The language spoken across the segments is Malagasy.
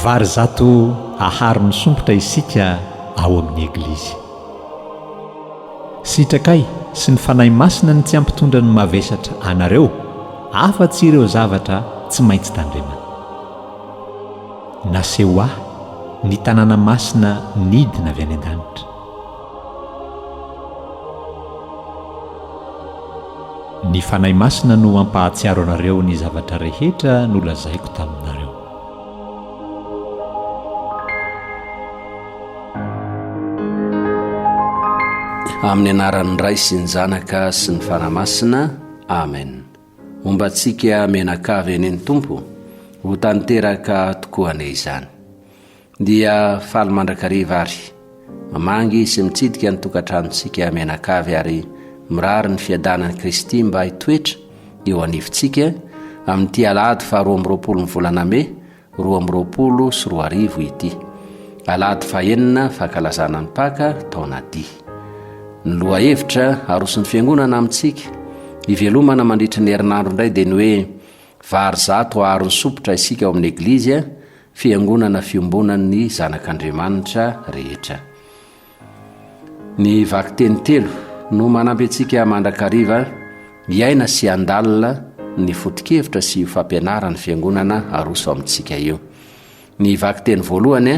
Vary zato haharo ny sompitra isika ao amin'ny Eglizy. Sitrakay sy ny Fanahy Masina ny tsy hampitondra ny mavesatra anareo afa-tsy ireo zavatra tsy maintsy tandremana. Naseho ahy ny tanàna masina nidina avy any an-danitra. Ny Fanahy Masina no hampahatsiaro anareo ny zavatra rehetra nolazaiko taminareo. Amin'ny anaran'ny Ray sy ny Zanaka sy ny Fanahy Masina. Amen. Homba antsika mianakavy anie ny Tompo, ho tanteraka tokoa anie izany. Dia faly mandrakariva ary. Mamangy sy mitsidika ny tokantranontsika mianakavy ary mirary ny fiadanan'i Kristy mba hitoetra eo anivontsika amin'ity alahady faharoa amby roapolon'ny volana mey roa amby roapolo sy roa arivo ity. Alahady fahenina, fankalazana ny Paka, taona D. Ny lohahevitra aroson'ny Fiangonana amintsika hivelomana mandritry ny herinandro indray dia ny hoe Vary zato aharony sompitra isika ao amin'ny Eglizy, Fiangonana fiombonan'ny Zanak'Andriamanitra rehetra. Ny vakiteny telo no manampy antsika mandrakariva hiaina sy handalina ny foto-kevitra sy io fampianaran'ny Fiangonana aroso amintsika io. Ny vakiteny voalohany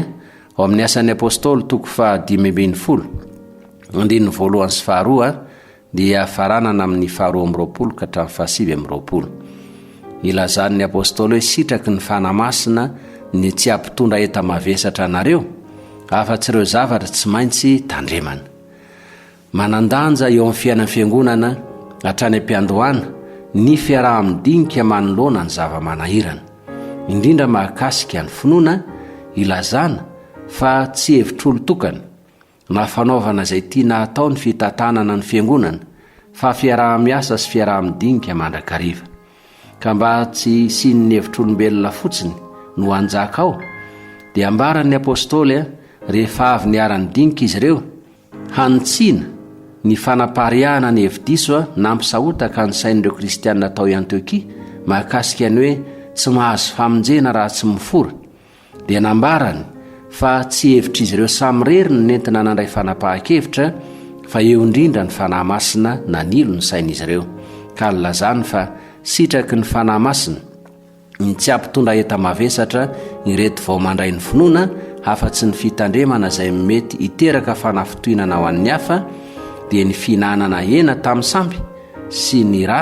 ao amin'ny Asan'ny Apôstôly toko faha dimy ambin'ny folo, andininy voalohany sy faharoa, dia faranana amin'ny faharoa amby roapolo ka hatramin'ny fahasivy amby roapolo. Ilazan'ny Apôstôly hoe sitraky ny Fanahy Masina ny tsy hampitondra enta-mavesatra anareo afa-tsy ireo zavatra tsy maintsy tandremana. Manan-danja eo amin'ny fiainan'ny Fiangonana hatrany am-piandohana ny fiaraha-midinika manoloana ny zava-manahirana, indrindra mahakasika ny finoana, ilazana fa tsy hevitr'olon-tokana, na fanaovana izay tiana hatao ny fitantanana ny fiangonana fa fiaraha-miasa sy fiaraha-midinika mandrakariva ka mba tsy hisian'ny hevitr'olombelona fotsiny no hanjaka ao dia ambaran'ny apôstôly rehefa avy niara-nidinika izy ireo hanitsiana ny fanapariahana ny hevi-diso a nampisahotaka ny sain'ireo kristianina atao i antiokia mahakasika ny hoe tsy mahazo famonjena raha tsy mifora dia nambarany fa tsy hevitr'izy ireo samirery ny nentina nandray fanapahan-kevitra fa eo indrindra ny Fanahy Masina nanilo ny sain'izy ireo ka nilazany fa sitraky ny Fanahy Masina ny tsy hampitondra enta-mavesatra ireto vao mandray ny finoana afa-tsy ny fitandremana izay mety hiteraka fanafintohinana ho an'ny hafa dia ny fihinanana hena tamin'ny samby sy ny ra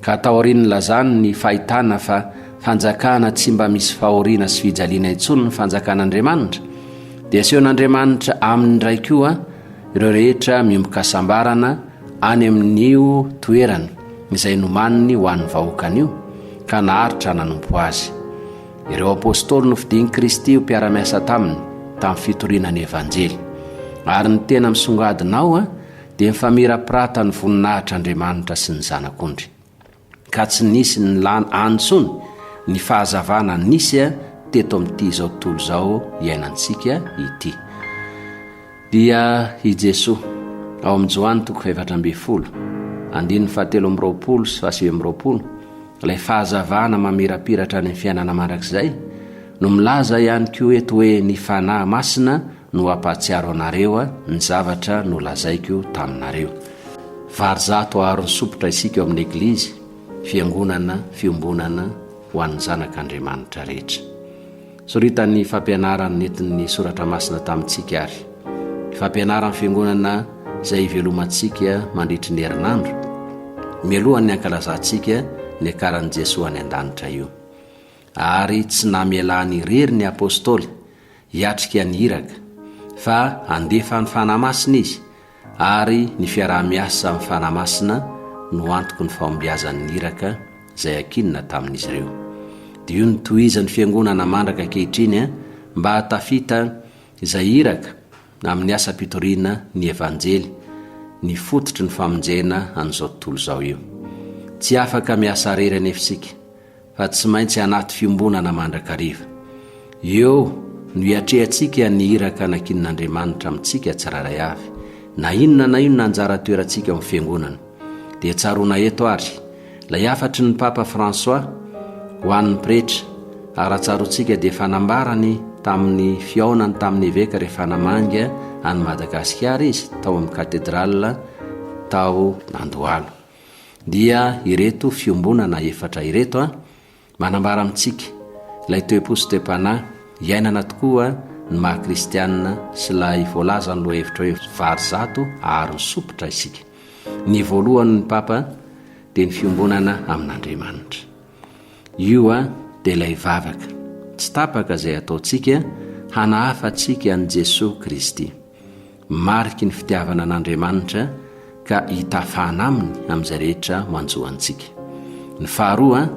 Ka taorian'ny lazany ny fahitana fa fanjakana tsy mba misy fahoriana sy fijaliana intsony ny fanjakan'Andriamanitra, dia asehon'Andriamanitra aminy indray koa ireo rehetra miombok'hasambarana any amin'io toerany izay nomaniny ho an'ny vahoakany io, ka naharitra nanompo azy. Ireo apostoly nofidin'i Kristy ho mpiara-miasa taminy tamin'ny fitoriana ny Evanjely. Ary ny tena misongadina ao, Dia nifamirapirata ny voninahitr' Andriamanitra sy ny Zanak' ondry, ka tsy nisy nilan any intsony ny fahazavana nisy teto amin' ity izao tontolo izao iainantsika ity. Dia i Jesoa, ao amin' ny Joany toko fahefatra ambin'ny folo, andininy fahatelo amby roapolo sy fahasivy amby roapolo, ilay fahazavana mamirapiratra any amin' ny fiainana mandrakizay, no milaza ihany koa eto hoe ny Fanahy Masina no hampahatsiaro anareo ny zavatra nolazaiko taminareo. Vary zato aharo ny sompitra isika ao amin'ny Eglizy, Fiangonana Fiombonana ho an'ny Zanak' Andriamanitra rehetra. Soritan'ny fampianarana nentin'ny Soratra Masina tamintsika ary ny fampianaran'ny Fiangonana izay hivelomantsika mandritry ny herinandro, mialohan'ny hankalazantsika ny akaran'i Jesoa any an-danitra io. Ary tsy namelany irery ny Apôstôly hiatrika an'i Iraka, fa handefa ny Fanahy Masina Izy, ary ny fiaraha-miasa amin'ny Fanahy Masina no antoky ny fahombiazan'ny Iraka izay ankinina tamin'izy ireo. Dia io no tohizan'ny Fiangonana mandraka ankehitriny an, mba hahatafita izay Iraka amin'ny asam-pitoriana ny Evanjely, ny fototry ny famonjena an'izao tontolo izao io. Tsy afaka miasa irery anefa isika. fa tsy maintsy anaty fiombonana mandrakariva. Eo no hiatrehantsika ny iraka anakian'Andriamanitra amintsika tsirairay avy, na inona na inona anjara toerantsika ao amin'ny Fiangonana. Dia tsaroana eto ary, ilay hafatry ny Papa François ho an'ny Pretra, ary raha tsaroantsika dia fanambarany tamin'ny fihaonany tamin'ny Eveka rehefa namangy an'i Madagasikara izy tao amin'ny Katedrala tao Andohalo. dia ireto fiombonana efatra ireto a manambara amintsika ilay toe-po sy toe-panahy iainana tokoa ny maha kristianina sy ilay voalazan'ny lohahevitra hoe vary zato aharo ny sopitra isika ny voalohany ny papa dia ny fiombonana amin'andriamanitra io a dia ilay vavaka tsy tapaka izay ataontsika hanahafa antsika an'i jesoa kristy Mariky ny fitiavana an'Andriamanitra ka itafana aminy amin'izay rehetra manjo antsika. Ny faharoa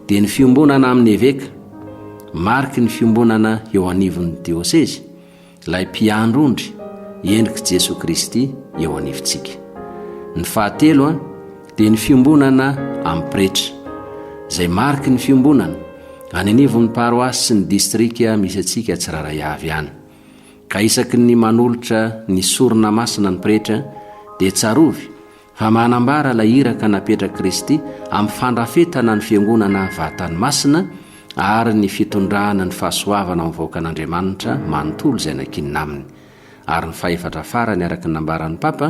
dia ny fiombonana amin'ny eveka. Mariky ny fiombonana eo anivon'ny diosezy, ilay mpiandry ondry, endrik'i Jesoa Kristy eo anivontsika. Ny fahatelo dia ny fiombonana amin'ny pretra, izay mariky ny fiombonana any anivon'ny paroasy sy ny distrika misy antsika tsirairay avy any. Ka isaky ny manolotra ny sorona masina ny pretra dia tsarovy fa manambara ilay iraka napetrak'i Kristy amin'ny fandrafetana ny fiangonana vatany masina ary ny fitondrana ny fahasoavana ho vahoakan'Andriamanitra manontolo izay nankinina aminy. Ary ny fahefatra farany araka ny nambaran'ny Papa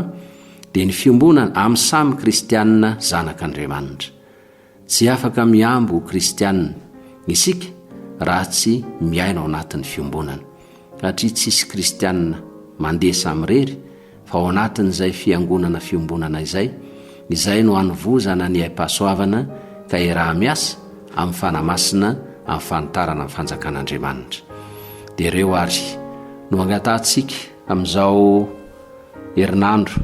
dia ny fiombonana amin'ny samy kristianina zanak'Andriamanitra. Tsy afaka mihambo ho kristiana isika raha tsy miaina ao anatin'ny fiombonana, satria tsisy kristiana mandeha samirery fa ao anatin'izay fiangonana fiombonana izay, izay no anovozana ny aim-pahasoavana ka iaraha-miasa amin'ny Fanahy Masina amin'ny fanitarana ny fanjakan'Andriamanitra. Dia ireo àry no angatahantsika amin'izao herinandro.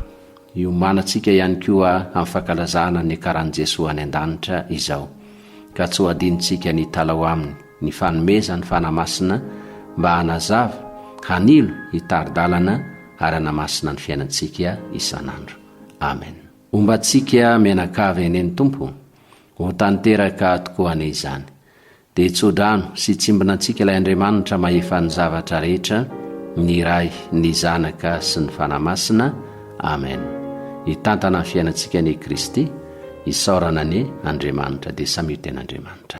Hiomanantsika ihany koa amin'ny fankalazana ny niakaran'i Jesoa any an-danitra izao, ka tsy ho adinontsika ny hitala ao aminy ny fanomezany fanahy masina mba hanazava, hanilo, hitari-dalana ary hanamasina ny fiainantsika isan'andro. Amen. Homba antsika mianakavy anie ny Tompo, ho tanteraka tokoa anie izany. Dia tsodrano sy tsimbinantsika ilay Andriamanitra mahefa ny zavatra rehetra, ny Ray, ny Zanaka sy ny Fanahy Masina. Amen. Hitantana ny fiainantsika anie Kristy. Isaorana anie Andriamanitra dia samia ho ten'Andriamanitra.